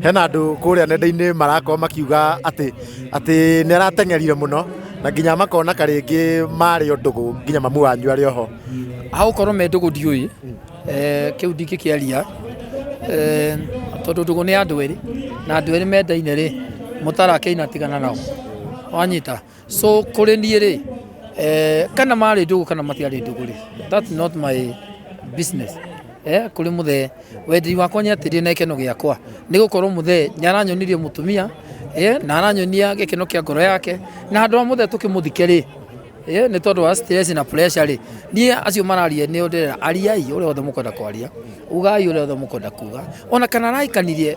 hena andå kå rä a nenda-inä marakorwo makiuga atä atä nä arateng'erire må no na nginya makona karä ngä marä o ndå gå nginya mamu wanyu arä oho hagũkorwo me ndũgũ ndiũĩ eh, kĩu ndingĩkĩaria eh, tondũ ndũgũ nĩ andũ erĩ na andũ erĩ mendaine rĩ mũtara akĩina tigana nao wanyita so kũrĩ niĩ rĩ eh, kana marĩ ndũgũ kana matiarĩ ndũgũ rĩ that's not my business eh, kũrĩ mũthee wenderi wakwa nĩ atĩrĩ na gĩkeno gĩakwa nĩ gũkorwo mũthee nĩ aranyonirie mũtumia eh, na aranyonia gĩkeno kĩa ngoro yake na handũ wa mũthee tũkĩmũthike rĩ eh, nĩ tondũ wa stress na pressure rĩ niĩ acio mararia nĩ ndĩrera ariai ũrĩa wothe mũkwenda kwaria ugai ũrĩa wothe mũkwenda kuga ona kana araikanirie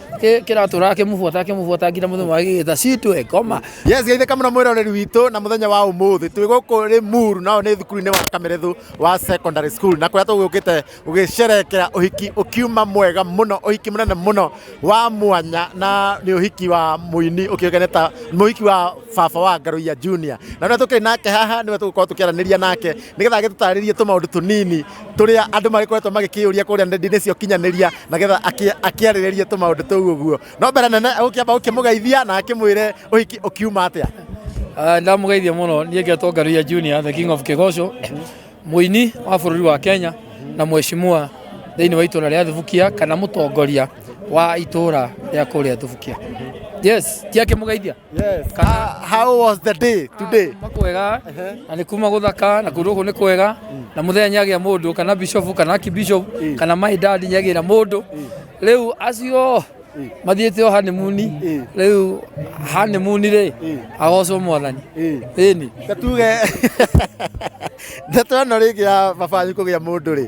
Kä- kĩratũraga kĩmũbuata kĩmũbuata nginya mũthenya wa gĩgĩta citwe ngoma yes geithĩka mũno mwĩroreri witũ na mũthenya wa ũmũthĩ twĩ gũkũ rĩ muru nao nĩ thukuru-inĩ wa kamerethu wa secondary school na kũrĩa tũgũkĩte gũgĩcerekera ũhiki ũkiuma mwega mũno ũhiki mũnene mũno wa mwanya na nĩ ũhiki wa mũini ũkĩũgene ta mũhiki wa baba wa ngarũia junior na rĩrĩa tũkĩrĩ nake haha nĩwe tũgũkorwo tũkĩaranĩria nake nĩgetha agĩtũtarĩrie tũmaũndũ tũnini tũrĩa andũ magĩkoretwo magĩkĩyũria kũrĩa nenda-inĩ cia ũkinyanĩria nagetha akĩarĩrĩrie tũmaũndũ tũu ũguo no mbere nene ũkĩamba ũkĩmũgeithia na akĩmwĩre ũhiki ũkiuma atĩa ah, ndamũgeithia mũno niĩ ngetwo ngaruia junior the king of kĩgoco mũini wa bũrũri wa kenya na mweshimua thĩinĩ wa itũra rĩa thibukia kana mũtongoria wa itũra rĩa kũrĩa tubukia yes tiake mugeithia Yes. Kana- How, how was the day today? kuma kwega na nä kuma gå thaka na kå ndå gå nä kwega na må thenya nyagä a må ndå kana bishop kana kibishop kana maidadi nyagä ra må ndå rä u acio mathiä te o hanimuni rä u hanimuni rä agocwo mwathani ä ni Tuge ndeto ĩno rĩngĩ ya baba wanyu kũgĩa mũndũ rĩ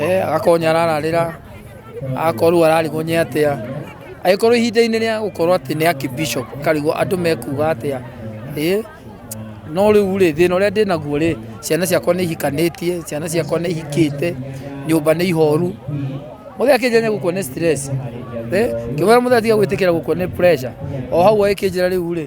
eh, agakorwo nĩ arararĩra agakorwo rĩu ararigwo nĩ atĩa agĩkorwo ihinda-inĩ rĩa gũkorwo atĩ nĩ akibishop akarigwo andũ mekuga atĩa ĩ no rĩu rĩ thĩna ũrĩa ndĩ naguo rĩ ciana ciakwa nĩ ihikanĩtie ciana ciakwa nĩ ihikĩte nyũmba nĩ ihoru mũthee akĩnjanya gũkwo nĩ stress ngĩmwĩra mũthee tiga gwĩtĩkĩra gũkwo nĩ pressure o hau agĩkĩnjĩra rĩu rĩ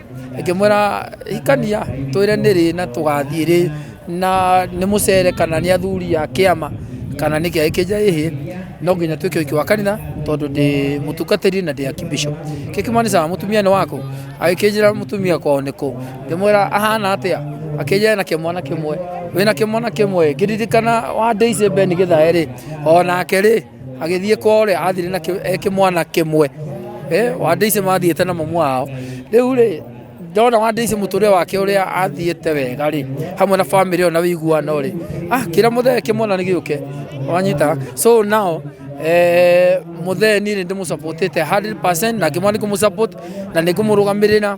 ngĩmwĩra hikania twĩre nĩ rĩ na tũgathiĩ rĩ na nĩ mũcere kana nĩ athuri a kĩama kana nĩ kĩa ĩkĩnja ĩhĩ no nginya twĩke ũhiki wa kanitha tondũ ndĩ mũtungatĩri na ndĩ akibishop kĩkĩmanicaga mũtumia nĩ wakũ agĩkĩnjĩra mũtumia kwao nĩ kũ ngĩmwĩra ahana atĩa akĩnjĩra na kĩmwana kĩmwe wĩna kĩmwana kĩmwe ngĩririkana wa ndĩice beni gĩthae rĩ onake rĩ agĩthiĩ kwao rĩ athire na kĩ- e kĩmwana kĩmwe Eh, wandĩici mathiĩte na mamu wao rĩu rĩ ndona wandĩici mũtũrĩre wake ũrĩa athiĩte wega rĩ hamwe na bamĩrĩ ĩyo na wĩiguano rĩ ah kĩra mũthee kĩmwana nĩ gĩũke wanyita so now eh, mũthee niĩ nĩ ndĩmũsapotĩte 100% na ngĩmwana nĩ kũmũsapoti na nĩ ngũmũrũgamĩrĩra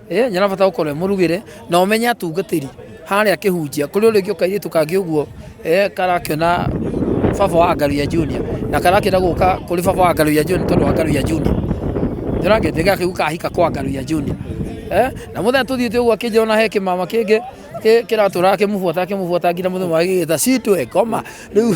Eh, nyina bata gukorwo e murugire na umenye atungatiri haria kihunjia kuri uri ngi ukairitu kangi uguo eh, karakiona baba wa ngaru ya junior na karakira guka kuri baba wa ngaru ya junior tondu wa ngaru ya junior ndona ngete gake guka hika kwa ngaru ya junior eh, na muthenya tuthiite uguo akinjira na he kimama kingi kiratura akimubuata akimubuata nginya muthenya wa gigita citwe ngoma riu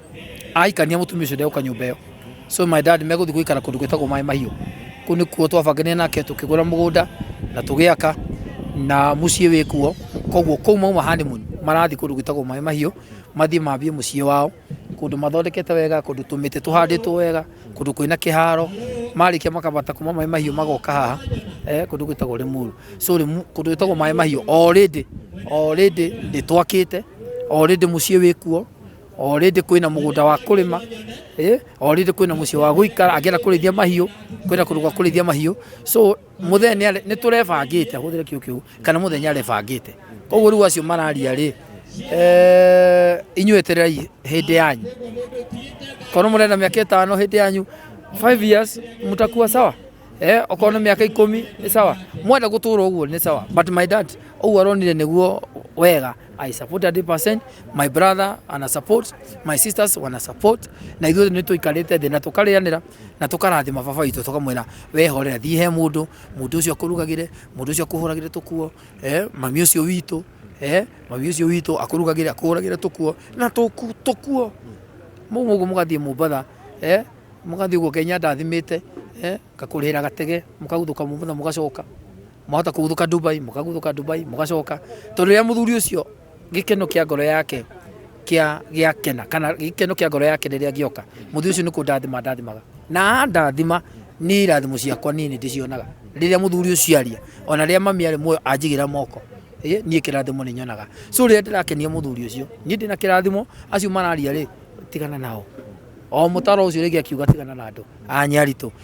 ahikania mutumia ucio ndeguka nyumba iyo so my dad meguthi guikara kundu gwitagwo maĩ mahiũ kuu nikuo twabanganire nake tukigura mugunda na tugiaka na muciĩ wĩ kuo koguo kuu mauma honeymoon marathi kundu gwitagwo maĩ mahiũ mathi mambie muciĩ wao kundu mathondekete wega kundu tumĩtĩ tuhandĩtwo wega kundu kwĩna kĩharo marĩkia makabata kuma maĩ mahiũ magoka haha eh, kundu gwitagwo Limuru so Limu- kundu gwitagwo maĩ mahiũ already already nĩ twakĩte already muciĩ wĩ kuo Already kwĩna mũgũnda wa kũrĩma eh, already kwĩna mũciĩ wa gũikara angĩenda kũrĩithia mahiũ kwĩna kũndũ gwa kũrĩithia mahiũ so mũthenya nĩ tũrebangĩte hũthĩre kiugo kĩu kana mũthenya arebangĩte koguo rĩu acio mararia rĩ eh, inyuĩ etererai hĩndĩ yanyu korwo mũrenda mĩaka ĩtano hĩndĩ yanyu 5 years mtakuwa sawa eh okorwo nĩ mĩaka ikũmi nĩ sawa mwenda gũtũra ũguo nĩ sawa but my dad ũguo aronire nĩguo wega I support 100%. My brother ana support, my sisters wana support. Na ithuothe nĩ tũikarĩte thĩ na tũkarĩanĩra na tũkarathima baba witũ tũkamwĩra wehorera thiĩ he mũndũ mũndũ ũcio akũrugagĩre mũndũ ũcio akũhũragĩre tũkuo eh, mami ũcio witũ eh, mami ũcio witũ akũrugagĩre akũhũragĩre tũkuo na tũku- tũkuo mau ũguo mũgathiĩ mũmbatha eh, mũgathiĩ ũguo kenya ndathimĩte eh, ngakũrĩhĩra gatege mũkaguthũka mũmbatha mũgacoka mwahota kũguthũka Dubai mũkaguthũka Dubai mũgacoka tondũ rĩrĩa mũthuri ũcio gĩkeno kĩa ngoro yake kĩa gĩakena kana gĩkeno kĩa ngoro yake rĩrĩa gĩoka mũthuri ũcio nĩ kũndathima ndathimaga na ndathima nĩ irathimo ciakwa niĩ nĩ ndĩcionaga rĩrĩa mũthuri ũcio aria ona rĩrĩa mami arĩ muoyo anjigĩra moko ĩ, niĩ kĩrathimo nĩ nyonaga so rĩrĩa ndĩrakenia mũthuri ũcio niĩ ndĩna kĩrathimo acio mararia rĩ tigana nao o mũtaro ũcio rĩngĩ akiuga tigana na andũ anyaritũ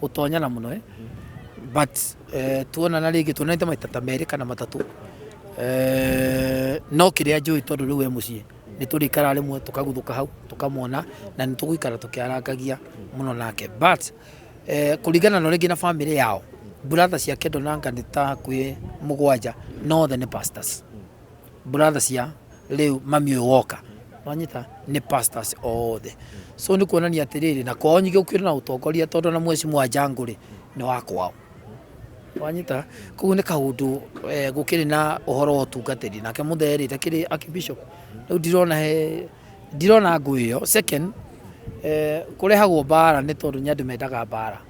gũtonyana mũno eh? but eh, tuonana rĩngĩ tuonanĩte maita ta merĩ kana matatũ eh, no kĩrĩa njũĩ tondũ rĩu e mũciĩ nĩ tũrĩikara rĩmwe tũkaguthũka hau tũkamwona na nĩ tũgũikara tũkĩarangagia mũno nake but eh, kũringana na rĩngĩ na bamĩrĩ yao brother ciake ndonanga nĩ ta hakuhĩ mũgwanja no othe nĩ pastors brother cia rĩu mami ũyũ woka wanyita nĩ pastors othe so nĩ kuonania atĩrĩrĩ na kwao nyingĩ gũkĩrĩ na ũtongoria tondũ na mweci mwa njangũrĩ nĩ wa kwao wanyita koguo nĩ kaũndũ eh, gũkĩrĩ na ũhoro wa ũtungatĩri nake mũtherĩ takĩrĩ akibishop rĩu ndirona he ndirona ngũĩ ĩyo second eh, kũrehagwo mbara nĩ tondũ nĩ andũ mendaga mbara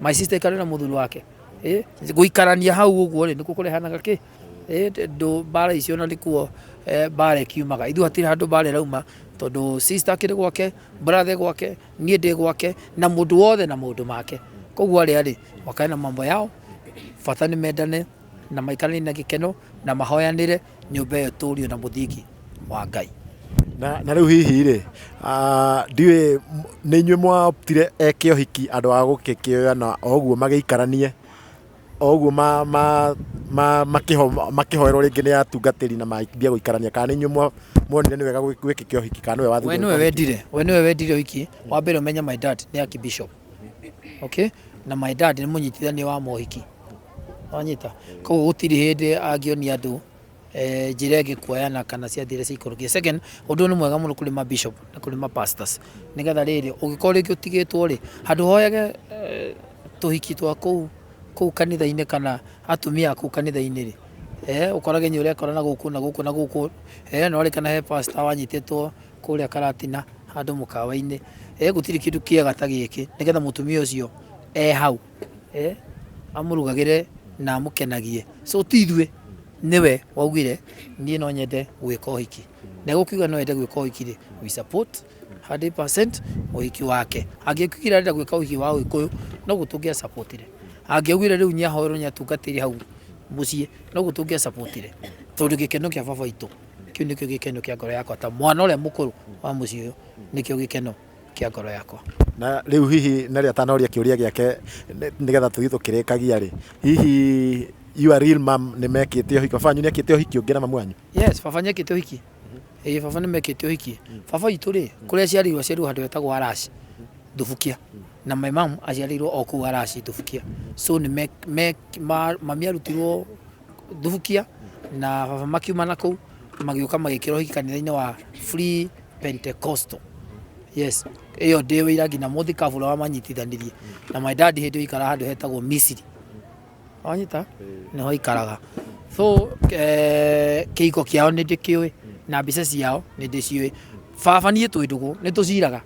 my sister ikare na muthuri wake eh guikarania hau uguo ri nikuo kurehanaga ki eh ndu bara icio na nikuo eh, bara ikiumaga ithu hatiri handu bara irauma tondu sister akiri gwake brother gwake nie ndi gwake na mundu wothe na mundu make koguo ari ari makae na mambo yao bata ni mendane na maikarani na gikeno na mahoyanire nyũmba ĩyo ĩtũũrio na mũthingi wa Ngai. Na, na rĩu hihi rĩ ah, ndiũĩ m- nĩ inyuĩ mwatire eke ũhiki andũ a gũkĩkĩoya na oguo magĩikaranie oguo ma, ma, ma, makĩho- makĩhoerwo rĩngĩ nĩ atungatĩri na mambia gũikarania kana nĩ inyuĩ mwa- muonire nĩ wega gwĩ- gwĩkĩke ũhiki kana nĩwe we wathire nĩwe wendire we nĩwe wendire ũhiki wa mbere ũmenye my dad nĩ archbishop okay na my dad nĩ mũnyitithania wa mohiki wanyita koguo gutiri hindi angionia andu eh, njira ingi kuoyana kana ciathi iria ciaikũrũkia second ũndũ ũyũ nĩ mwega mũno kũrĩ ma bishop na kũrĩ ma pastors nĩgetha rĩrĩ ũngĩkorwo rĩngĩ ũtigĩtwo rĩ handũ hoyage eh, tũhiki twa kũu kũu kanitha-inĩ kana atumia a kũu kanitha-inĩ rĩ eh, ũkorage nĩ ũrekora na gũkũ na gũkũ na gũkũ eh, no rĩkana he pastor wanyitĩtwo kũrĩa karatina handũ mũkawa-inĩ eh, gũtirĩ kĩndũ kĩega ta gĩkĩ nĩgetha mũtumia ũcio e hau eh, amurugagire na amukenagie so ti ithuĩ niwe waugire niĩ no nyende gwĩka ũhiki na gũkiuga no yende gwĩka ũhiki rĩ we support 100% ũhiki wake angĩkiugira arenda gwĩka ũhiki wa ũgĩkũyũ no gũtũngĩa supportire angĩaugire rĩu nĩ ahoerwo nĩ atungatĩri hau mũciĩ no gũtũngĩa supportire tondũ gĩkeno kĩa baba witũ kĩu nĩkĩo gĩkeno kĩa ngoro yakwa ta mwana ũrĩa mũkũrũ wa mũciĩ ũyũ nĩkĩo gĩkeno kĩa ngoro yakwa. Na rĩu hihi Nelly atanoria kĩũria gĩake nĩ- nĩgetha tũthiĩ tũkĩrĩkagia rĩ, hihi your real mom nĩ mekĩte ũhiki, baba wanyu nĩ ekĩte ũhiki ũngĩ na mamu wanyu? Yes, baba nĩ ekĩte ũhiki. Ĩĩ baba nĩ mekĩte ũhiki. Baba witũ rĩ, kũrĩa aciarĩirwo aciarĩirwo handũ hetagwo Araci, Thubukia. Na my mom aciarĩirwo o kũu Araci, Thubukia. So nĩ me- me- ma- mami arutirwo thubukia na baba makiuma na kũu magĩũka magĩkĩrwo hiki kanitha-inĩ wa Free Pentecostal yes ĩyo ndĩ wĩira nginya mũthĩ kabura wa manyitithanirie na my dad hĩndĩ ĩyo ikara handũ hetagwo Misiri wanyita nĩho ikaraga so eh, kĩhiko kĩao nĩ ndĩkĩũĩ na mbica ciao nĩ ndĩciũĩ baba niĩ twĩ ndũgũ nĩ tũciraga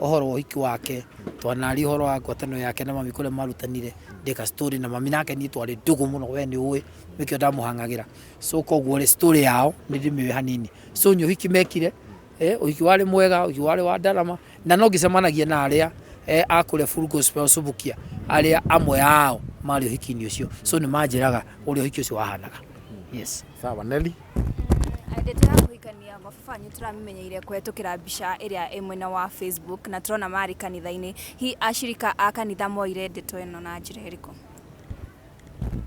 ũhoro wa ũhiki wake twanaria ũhoro wa ngwatanĩro yake na mami kũrĩa marutanire ndĩka story na mami nake niĩ twarĩ ndũgũ mũno we nĩ ũĩ nĩkĩo ndamũhang'agĩra so koguo rĩ story yao nĩ ndĩmĩũĩ hanini so nĩ ũhiki mekire eh, ũhiki warĩ mwega ũhiki warĩ wa ndarama na no ngĩcemanagia na arĩa eh, a kũrĩa Full Gospel Subukia arĩa amwe ao marĩ ũhiki-inĩ ũcio so nĩ manjĩraga ũrĩa ũhiki ũcio wahanaga yes sawa neli Ndeto ya kũhikania mababa nĩ tũramĩmenyeire kũhetũkĩra mbica ĩrĩa ĩ mwena wa Facebook na tũrona marĩ kanitha-inĩ. Hihi acirika a kanitha moire ndeto ĩno na njĩra ĩrĩkũ?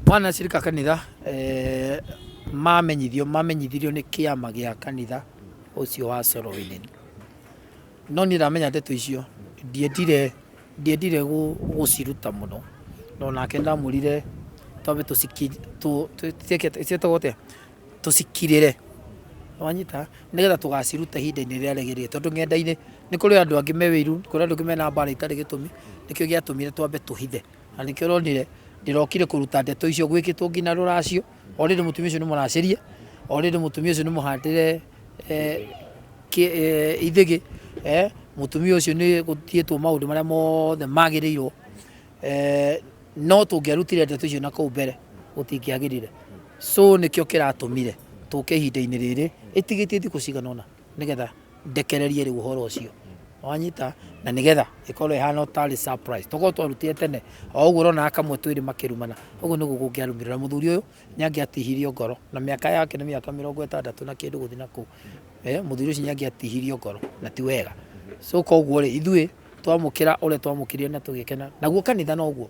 Mwana acirika a kanitha eh, mamenyithio mamenyithirio nĩ kĩama gĩa kanitha ũcio wa Sorowini. No niĩ ndamenya ndeto icio ndiendire Ndiendire gũciruta mũno no nake ndamũrire twambe tũciĩtagwo atĩa tũcikirĩre wanyita nĩgetha tũgacirute ihinda-inĩ rĩrĩa rĩagĩrĩire tondũ ng'enda-inĩ nĩ kũrĩ andũ angĩ me wĩiru nĩ kũrĩ andũ angĩ mena mbara itarĩ gĩtũmi nĩkĩo gĩatũmire twambe tũhithe na nĩkĩo ũronire ndĩrokire kũruta ndeto icio gwĩkĩtwo nginya rũracio. Already mũtumia ũcio nĩ mũracĩrie, already mũtumia ũcio nĩ mũhandĩre eh, kĩ- eh, ithĩgĩ, eh, mũtumia ũcio nĩ gũtiĩtwo maũndũ marĩa mothe magĩrĩirwo eh, no tũngĩarutire ndeto icio na kũu mbere gũtingĩagĩrire so nĩkĩo kĩratũmire tũke ihinda-inĩ rĩrĩ ĩtigĩtie thikũ cigana ũna nĩgetha ndekererie rĩu ũhoro ũcio wanyita na nĩgetha ĩkorwo ĩhana ũtarĩ surprise tokorwo twarutire tene o ũguo ũrona akamwe twĩrĩ makĩrumana ũguo nĩguo kũngĩarumĩrĩra mũthuri ũyũ nĩ angĩatihirio ngoro na mĩaka yake nĩ mĩaka mĩrongo ĩtandatũ na kĩndũ gũthiĩ na kũu eh, mũthuri ũcio nĩ angĩatihirio ngoro na ti wega so koguo rĩ ithuĩ twamũkĩra ũrĩa twamũkĩrire na tũgĩkena naguo kanitha noguo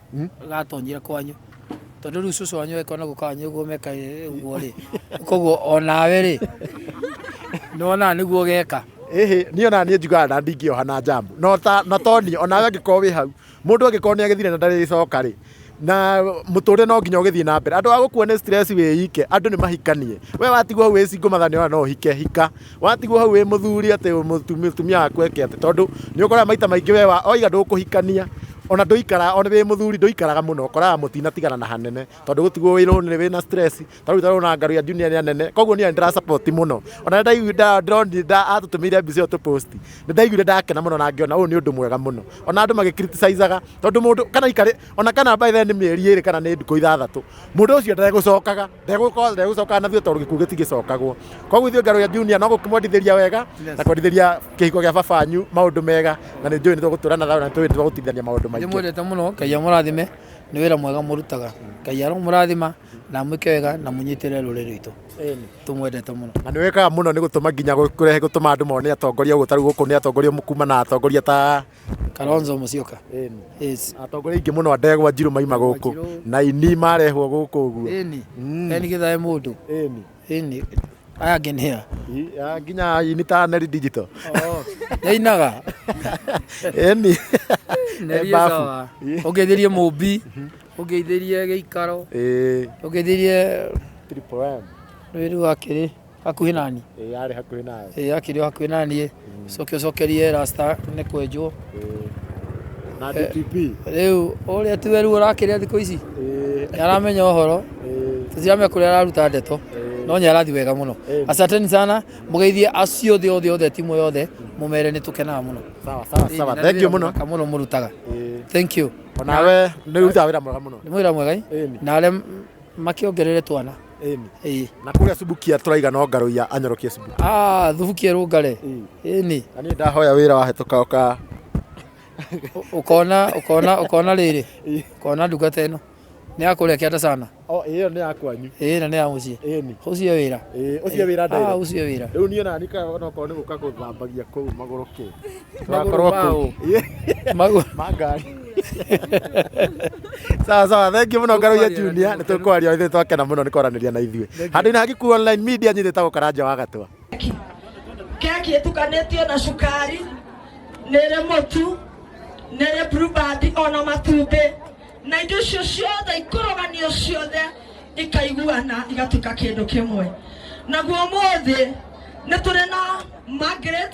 gatonyire kwanyu tondå rä u cå cå wanyu ekona gå kanyå guo meka å guo rä koguo onawe rä nä wonaga nä guo geka ĩhĩ niĩ ona niĩ njugaga na ndingĩoha na njamu no ta na toni onawe angĩkorwo wĩ hau mũndũ angĩkorwo nĩ agĩthire na ndarĩcoka rĩ na mũtũrĩre no nginya ũgĩthiĩ na mbere andũ a gũkua nĩ stress wĩ ike andũ nĩ mahikanie we watigwo hau wĩ single matha nĩ ona no ũhike hika Watigwo hau wĩ mũthuri atĩ mũtumia waku eke atĩ tondũ nĩ ũkoraga maita maingĩ we oiga ndũkũhikania ona ndũikara ona wĩ mũthuri ndũikaraga mũno ũkoraga mũtinatigana na hanene tondũ gũtigwo wĩ lonely wĩ na stress ta rĩu tarona ngaru ya junior nĩ anene koguo niĩ ndĩra support mũno ona ndaigua ndĩronire atũtũmĩire mbica ĩyo tũ post nĩ ndaiguire ndakena mũno na ngĩona ũyũ nĩ ũndũ mwega mũno ona andũ magĩ criticizaga tondũ mũndũ kana ikarĩ ona kana by the way nĩ mĩeri ĩrĩ kana nĩ ndukũ ithathatũ Mũndũ ũcio ndegũcokaga, ndegũkorwo ndegũcokaga na ithuĩ tondũ gĩkuũ gĩtigĩcokagwo. Koguo ithuĩ Ngero ya Junior no gũkĩmwendithĩria wega Yes. na kwendithĩria kĩhiko gĩa baba wanyu maũndũ mega na nĩ njũĩ nĩ tũgũtũra na thayũ na nĩ tũĩ nĩ tũgũtithania maũndũ nĩ maingĩ. mwendete mũno ngai amũrathime nĩ wĩra mwega mũrutaga ngai aromũrathima na amwĩke wega na mũnyitĩrĩre rũrĩrĩ rwitũ tũmwendete mũno na nä wä kaga må no nä gå tå ma nginya kå rehe gå tå ma andå mone atongoria å tarä u gå kå nä atongoria kuma na atongoria ta Kalonzo Musyoka. Ĩni. Yes. Atongoria aingĩ mũno a ndegwa njirũ maima gũkũ Wanjirũ. na ini marehwo gũkũ ũguo. Ĩni. Mm. Eni githae mũndũ. Ĩni. Ĩni. Aya angĩ nĩ hea. I- ah, Nginya ini ta Neri Digital. Yainaga. Ĩni. Neri Mbabu. sawa. Ĩ. Ũngeithirie mũmbi. Ũngeithirie gĩikaro. Ĩ, Ũngeithirie Triple M. wĩru wa kĩrĩ. hakuhĩ nani ĩĩ yarĩ hakuhĩ nawe ĩĩ yakĩrĩ o hakuhĩ naniĩ coke ũcokerie rasta nĩ kwenjwo Ĩĩ. na DPP rĩu ũrĩa ti weru ũrakĩrĩa thikũ ici Ĩĩ, nĩ aramenya ũhoro ĩĩ, tũtiramenya kũrĩa araruta ndeto no nĩ arathiĩ wega mũno Ĩĩ. asanteni sana mũgeithie acio othe othe othe timu yothe mũmere nĩ tũkenaga mũno sawa sawa Ĩĩ, sawa na nĩ thengiũ wĩra mũno mũthaka mũno mũrutaga Ĩĩ. thank you onawe nĩ ũrutaga wĩra mwega mũno nĩ mwĩra mwega ĩ? Ĩĩ. na arĩa makĩongerere twana Ĩni. Ĩĩ. Na kũrĩa Subukia tũraiga no ngarũ ya anyorokie Subukia. Ah, thubuki erũngare. Ĩni. Na niĩ ndahoya wĩra wahĩtũka ũka Ũ- Ũkona ũkona ũkona rĩrĩ. Ũkona ndungata ĩno. Nĩ ya kũrĩa kĩanda sana. o ĩyo nĩ ya kwanyu. Ĩĩ na nĩ ya mũciĩ. Ĩni. Ũcio wĩra. Ĩĩ, ũcio wĩra Ah, ndaiga. ũcio wĩra. Rĩu niĩ nani kaga onokorwo nĩ gũka gũthambagia kũu magũrũ kĩ. twakorwo kũu Magu- mangari sawa sawa thengiå må no ngaroia junia nä tå kwaria ithuä twakena må no nä kwaranä ria na ithuä handå inä hagiku online media nyithä tagå karanja wa gatwa keki ĩtukanĩtio na cukari nĩrĩ mũtu nĩrĩ blueband ona matumbĩ na indo icio ciothe ikũrũganio ciothe ikaiguana igatuĩka kĩndũ kĩmwe naguo ũmũthĩ nĩ tũrĩ na Margaret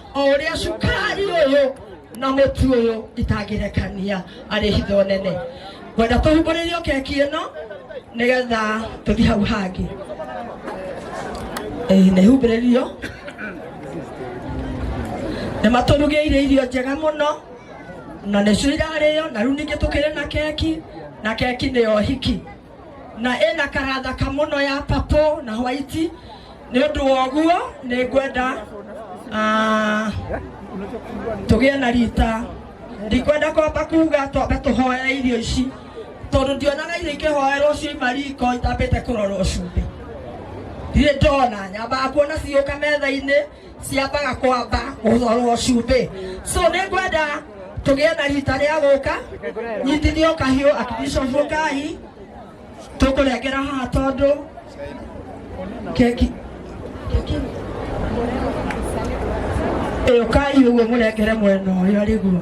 o ũrĩa cukari ũyũ na mũtu ũyũ itangĩrekania arĩ hitho nene ngwenda tũhumbũrĩrio keki ĩno nĩgetha tũthiĩ hau hangĩ Eh, nĩ humbĩrĩrio nĩ matũrugĩire irio njega mũno na nĩcio irarĩo na rĩu ningĩ tũkĩrĩ na keki na keki nĩyo hiki na ĩna kara thaka mũno ya papũ na hwaiti nĩ ũndũ wa ũguo nĩ ngwenda ah, tũgĩe na rita ndikwenda kwamba kuga twambe tũhoere irio ici tondũ ndionaga irio ikĩhoerwo ciuma riko itambĩte kũrorwo cumbĩ ndirĩ ndona nyambaga kuona cigĩũka metha-inĩ ciambaga kwamba ũhoro cumbĩ so nĩ ngwenda tũgĩe na rita rĩa gũka nyitithio kahiũ akibishobu ngai tũkũrengera haha tondũ keki ĩyo kai ũguo mũrengere mwena ũyũ arĩguo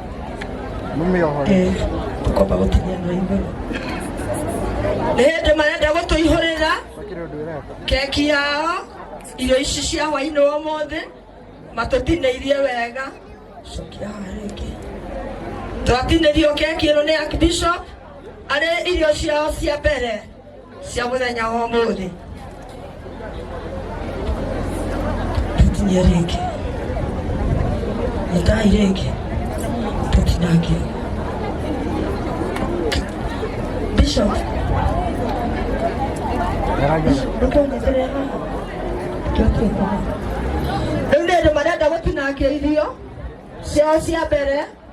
Eh, tũkomba gũkinyia andũ a igũrũ nĩ hĩndĩ marenda gũtũihũrĩra keki yao irio ici cia hwainĩ wa ũmũthĩ matũtinĩirie wega cokia haha rĩngĩ twatinĩrio keki ĩno nĩ Archbishop arĩ irio ciao cia mbere cia mũthenya wa ũmũthĩ tũtinie rĩngĩ nĩtai rĩngĩ tũtinange bishop ndũkũnyitĩrĩra rĩu nĩ andũ marenda gũtinangia irio ciao cia mbere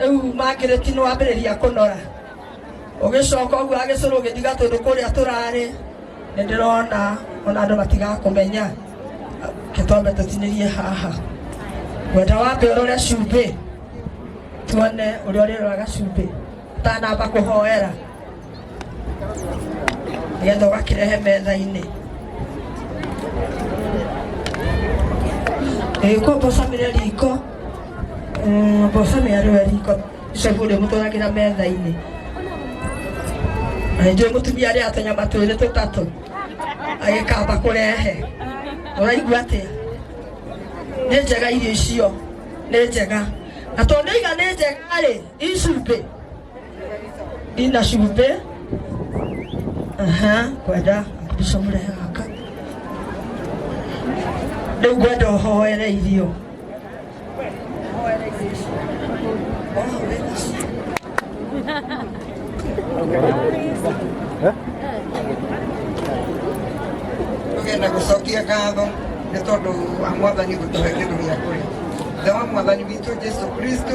rĩu makirĩti nĩ wambĩrĩria kũnora ũgĩcoka ũguo agĩcũrũ ũgĩthiga tũndũ kũrĩa tũrarĩ nĩ ndĩrona ona andũ matigakũmenya kĩtombe tũtinĩrie haha wenda wambe ũrore cumbĩ tuone ũrĩa ũrĩroraga cumbĩ tanamba kũhoera nĩgetha ũgakĩrehe metha-inĩ ĩgĩkwo mbocamĩre riko mbocamĩre rĩwe riko icogu rĩ mũtwaragĩra metha-inĩ na nĩnjũĩ mũtumia rĩa tũnyama twĩrĩ tũtatũ agĩkamba kũrehe ũraigua atĩa nĩ njega irio icio nĩ njega na tondũ iga nĩ njega rĩ icumbĩ Linda Shimpe. Aha, kwenda kupisha mure haka. Rĩu ngwenda ũhoere irio. tugenda gucokia ngatho nĩ tondũ wa mwathani gũtũhe kĩndũ gĩa kũrĩa thema mwathani witũ jesu kristo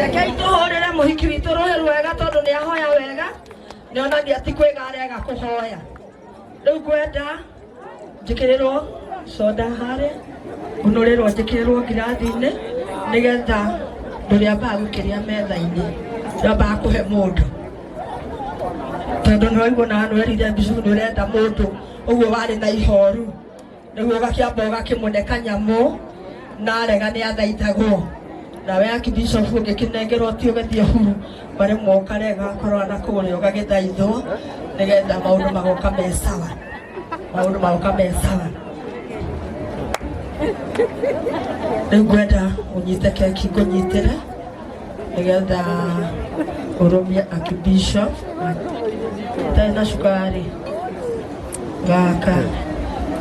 rekei tũhũrĩre mũhiki witũ rũhĩ rwega tondũ nĩ ahoya wega nĩ onagia ti kwĩga arega kũhoya rĩu ngwenda njĩkĩrĩrwo soda harĩa ũnũrĩrwo njĩkĩrĩrwo ngirathi-inĩ nĩgetha ndũrĩambaga gũkĩrĩa metha-inĩ ndambaga kũhe mũndũ tondũ nĩwaigua na nwerire mbicu nĩ ũrenda mũndũ ũguo warĩ na ihoru Nĩguo gakĩamba ũgakĩmũne kanyamũ na arega nĩ athaitagwo nawe akibishofu ũngĩkĩnengerwo ti ũgĩthiĩ huru marĩ mokarega korwo na kũrĩa ũgagĩthaithwo nĩgetha maũndũ magoka me sawa maũndũ magoka me sawa rĩu ngwenda ũnyite keki ngũnyitĩre nĩgetha ũrũmie akibisho itarĩ na cukari gaka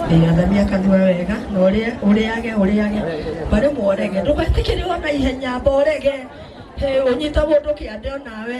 ndĩgathamia kanua wega na ũrĩa- ũrĩage ũrĩage barĩ mworege ndũgetĩkĩrĩo na ihenya mborege hĩ ũnyita mũndũ kĩande onawe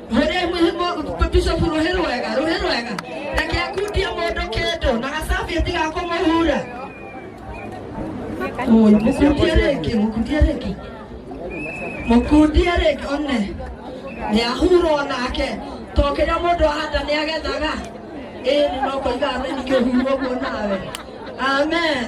Mwĩrĩ mwĩhĩmũ Bishop rũhĩ rwega rũhĩ rwega ndakĩakundia mũndũ kĩndũ na gacabĩti ga kũmũhura Mũi, mũkundie rĩngĩ mũkundie rĩngĩ mũkundie rĩngĩ one nĩahurwo nake to kĩrĩa mũndũ ahanda nĩagethaga ĩĩ nĩ no kũiga thĩ ningĩ ũhurwo guo nawe amen